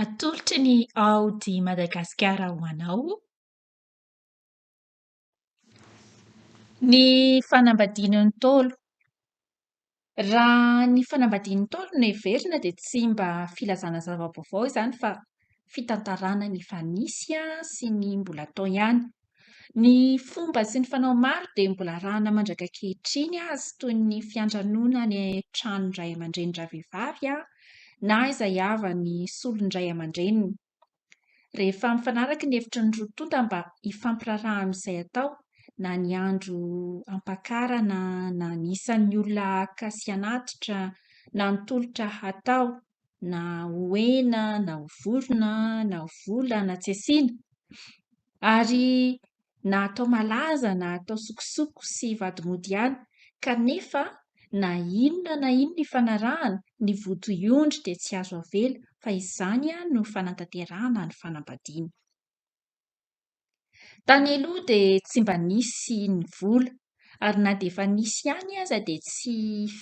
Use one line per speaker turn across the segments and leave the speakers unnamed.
Atolotry ny Audi Madagasikara ho anao ny fanambadian'ny Ntaolo. Raha ny fanambadian'ny Ntaolo no heverina dia tsy mba filazana zava-baovao izany fa fitantarana ny efa nisy sy ny mbola hatao ihany. Ny fomba sy ny fanao maro dia mbola arahana mandraka ankehitriny azy toy ny fiantranoana any an-tranon dRay aman-dReny ravehivavy na izay havan'ny solon-dRay aman-dReniny. Rehefa mifanaraka ny hevitry ny roa tonta mba hifampiraharaha amin'izay atao na ny andro hampakarana na ny isan'ny olona haka sy hanatitra na ny tolotra hatao na ho hena na ho vorona na ho vola na tsy asiana ary na atao malaza na atao sokosoko sy vady mody ihany kanefa na inona na inona ifanarahana ny votoiondry dia tsy azo avela fa izany no fanatanterahana ny fanambadiana. Tany aloha dia tsy mba nisy ny vola ary na dia efa nisy ihany aza dia tsy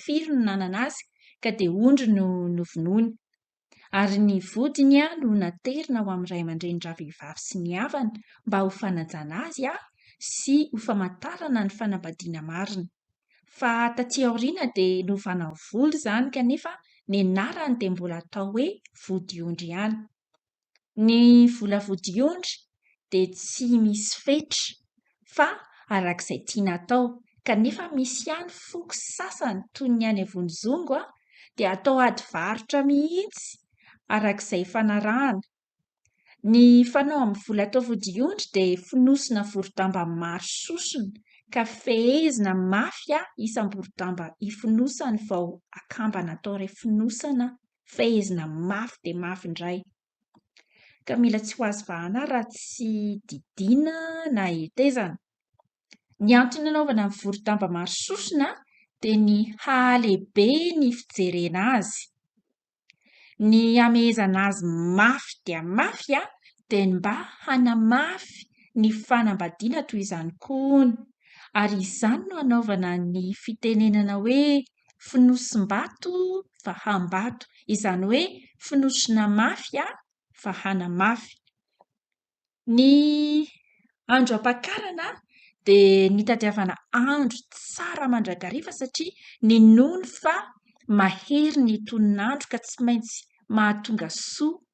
firy no nanana azy ka dia ondry no novonoiny ary ny vodiny no naterina ho amin'ny ray aman-dreny ravehivavy sy ny havany mba ho fanajana azy sy ho famantarana ny fanambadiana marina. Fa taty aoriana dia novana ho vola izany kanefa ny anarany dia mbola atao hoe vodiondry ihany. Ny vola vodiondry dia tsy misy fetra fa araka izay tiana atao kanefa misy ihany foko sasany toy ny any Vonizongo dia atao ady varotra mihitsy araka izay ifanarahana. Ny fanao amin'ny vola atao vodiondry dia fonosina vorodamba maro sosona ka fehezina mafy isam-borodamba ifonosany vao akambana atao iray fonosana fehezina mafy dia mafy indray, ka mila tsy ho azo vahana raha tsy didiana na hetezana. Ny antony nanaovana ny vorodamba maro sosona dia ny hahalehibe ny fijerena azy. Ny hamehezana azy mafy dia mafy dia mba hanamafy ny fanambadiana toy izany koa hono, ary izany no anaovana ny fitenenana hoe fonosim-bato fa hambato, izany hoe fonosina mafy fa hanamafy. Ny andro hampakarana dia nitadiavana andro tsara mandrakariva satria ninoana fa mahery ny tonon'andro ka tsy maintsy mahatonga soa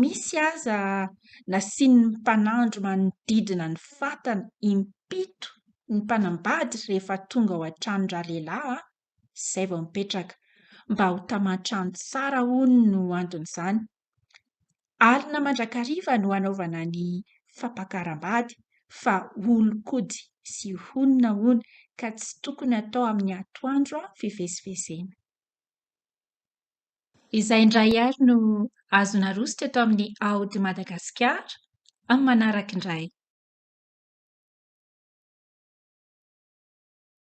misy aza nasian'ny mpanandro manodidina ny fatana impito ny mpanambady rehefa tonga ao an-trano ralehilahy izay vao mipetraka, mba ho taman-trano tsara hono no anton'izany. Alina mandrakariva no anaovana ny fampakaram-bady fa olon-kody sy honina hono ka tsy tokony atao amin'ny atoandro fivezivezena. Izay indray ary no azo naroso teto amin'ny Aody Madagasikara amin'ny manaraka indray.